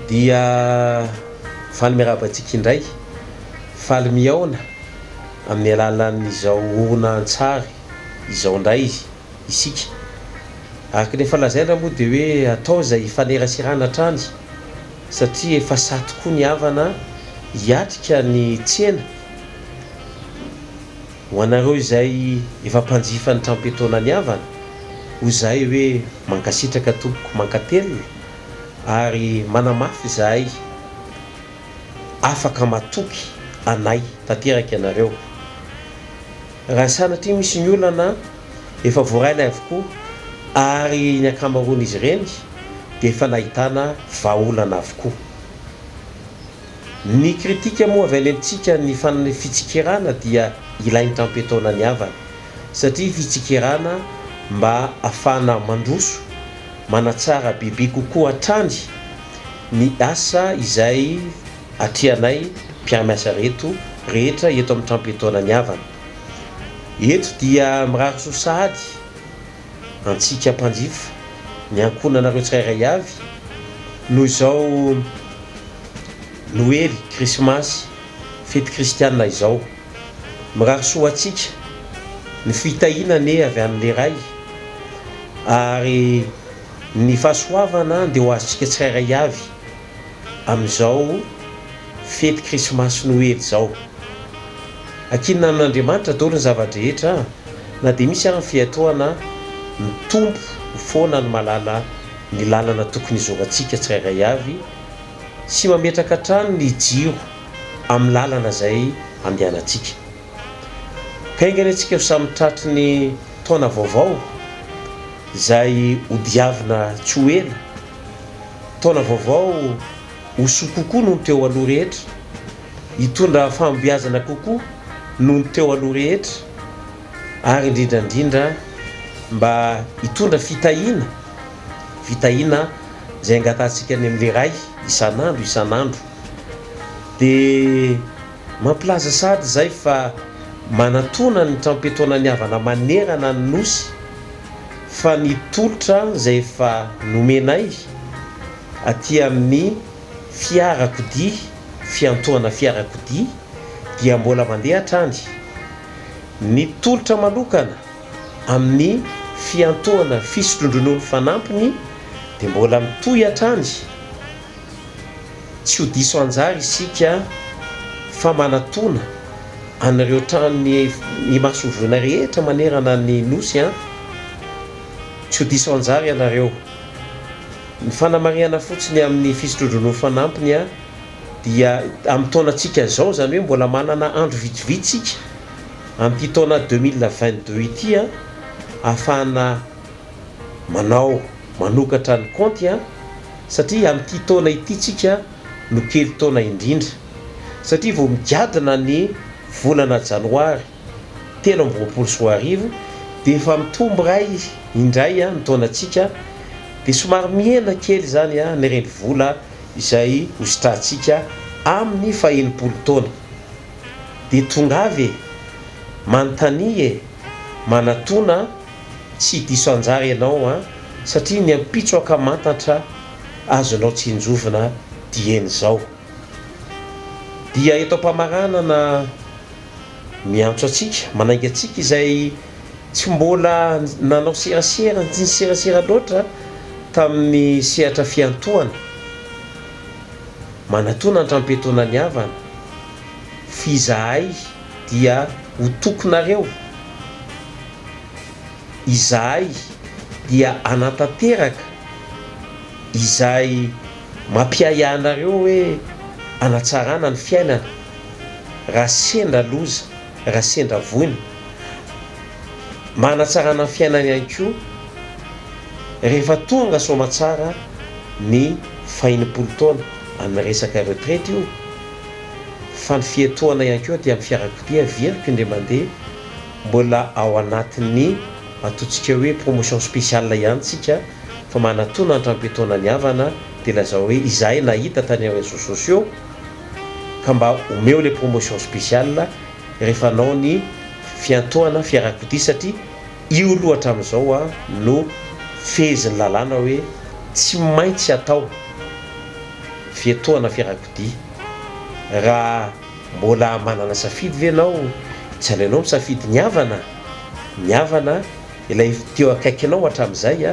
Dia faly miarahaba antsika indray, faly mihaona amin'ny alalan'izao horonantsary izao indray isika. Araka ny efa lazaina moa dia hoe atao izay hifaneraserana hatrany satria efa sahy tokoa ny havana hiatrika ny tsena. Ho anareo izay efa mpanjifa ny tram-piatoana niavana, hoy izahay hoe mankasitraka tompoko, mankatelina ary manamafy izahay afaka matoky anay tanteraka ianareo. Raha sanatria misy ny olana, efa voaray ilay avokoa ary ny ankamaroan'izy ireny dia efa nahitana vahaolana avokoa. Ny kritika moa avy alelontsika ny fanan'ny fitsikerana dia ilain'ny trampetona ny havany satria fitsikerana mba afahana mandroso, manatsara bebe kokoa hatrany ny asa izay atrehanay mpiara-miasa reto rehetra eto amin'ny trampetona ny havany. Eto dia mirary soa sahady antsika mpanjifa, ny ankohonanareo tsirairay avy, noho izao Noely, Krismasy, fety kristiana izao. Mirary soa ho antsika ny fitahiana anie avy an'Ilay Ray, ary ny fahasoavana dia ho azontsika tsirairay avy. amin'izao fety krismasy noely izao. Ankinina amin'Andriamanitra daholo ny zava-drehetra na dia misy ary ny fiatoana mitombo foana ny mahalala ny lalana tokony hizorantsika tsirairay avy sy mametraka hatrany ny jiro amin'ny lalana izay andehanantsika. Haingana antsika ho samy tratry ny taona vaovao izay hodiavina tsy ho ela. Taona vaovao ho soa kokoa noho ny teo aloha rehetra, hitondra fahombiazana kokoa noho ny teo aloha rehetra ary indrindra indrindra mba hitondra fitahiana, fitahiana izay angatahantsika any amin'ilay Ray isan'andro isan'andro. Dia mampilaza sahady izay fa manatona ny trampe-taonan'ny havana manerana ny Nosy. fa ny tolotra izay efa nomenay aty amin'ny fiarakodia, fiantohana fiarakodia, dia mbola mandeha hatrany. Ny tolotra manokana amin'ny fiantohana fisotrondronono fanampiny dia mbola mitohy hatrany. Tsy ho diso anjara isika fa manatona an'ireo tranon'ny imasonjoina rehetra manerana ny Nosy an! Tsy ho diso anjara ianareo. Ny fanamarihana fotsiny amin'ny fisotrodrano fanampiny an! dia amin'ny taonantsika izao, izany hoe mbola manana andro vitsivitsy isika amin'ity taona deux mille vingt deux ity an! ahafahana Manao manokatra ny kaonty an! Satria amin'ity taona ity tsika no kely taona indrindra. Satria vao migadona ny volana janoary telo amby roapolo sy roa arivo dia efa mitombo iray indray ny taonantsika dia somary mihena kely izany ny renivola izay hositrantsika amin'ny fahenimpolo taona. Dia tongava e! Manontania e! Manatona! Tsy diso anjara ianao an! Satria ny ampitso ankamantatra azonao tsinjovina dieny izao. Dia eto am-pamaranana miantso antsika, manainga antsika izay tsy mbola nanao serasera, tsy niserasera loatra tamin'ny sehatra fiantohana, manatona an-trampetonan'ny havana, f'izahay, dia ho tokinareo, izahay dia hanatanteraka izay mampiahiahy anareo hoe hanatsarana ny fiainana raha sendra loza, raha sendra voina. Manatsarana ny fiainana ihany koa rehefa tonga soamatsara ny fahenimpolo taona, amin'ny resaka retraite io. fa ny fiatohana ihany koa aty amin'ny fiarakodia very mpindre mandeha mbola ao anatin'ny atontsika hoe promotion spéciale ihany tsika fa manatona ny trampetoana ny havana dia lazao hoe izahay nahita tany amin'ny réseaux sociaux ka mba omeo ilay promotion spéciale rehefa hanao ny fiantohana fiarakodia satria io aloha hatramin'izao no fehezin'ny lalàna hoe tsy maintsy atao fiatohana fiarakodia. Raha mbola manana safidy ve ianao, tsy aleonao misafidy ny havana? Ny havana, ilay teo akaikinao hatramin'izay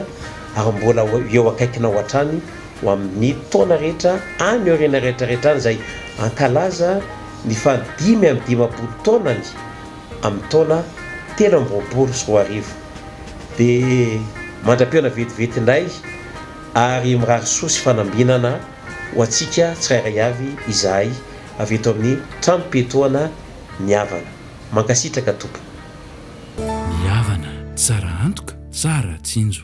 ary mbola ho eo akaikinao hatrany ho amin'ny taona rehetra any aoriana rehetrarehetra any izay hankalaza ny faha dimy amby dimampolo taonany amin'ny taona telo amby roapolo sy roa arivo. Dia mandra-pihaona vetivety indray. ary mirary soa sy fanambinana ho antsika tsirairay avy izahay avy eto amin'ny tranom-piatoana Ny Avana. Mankasitraka tompoko. Ny Avana tsara antoka, tsara tsinjo.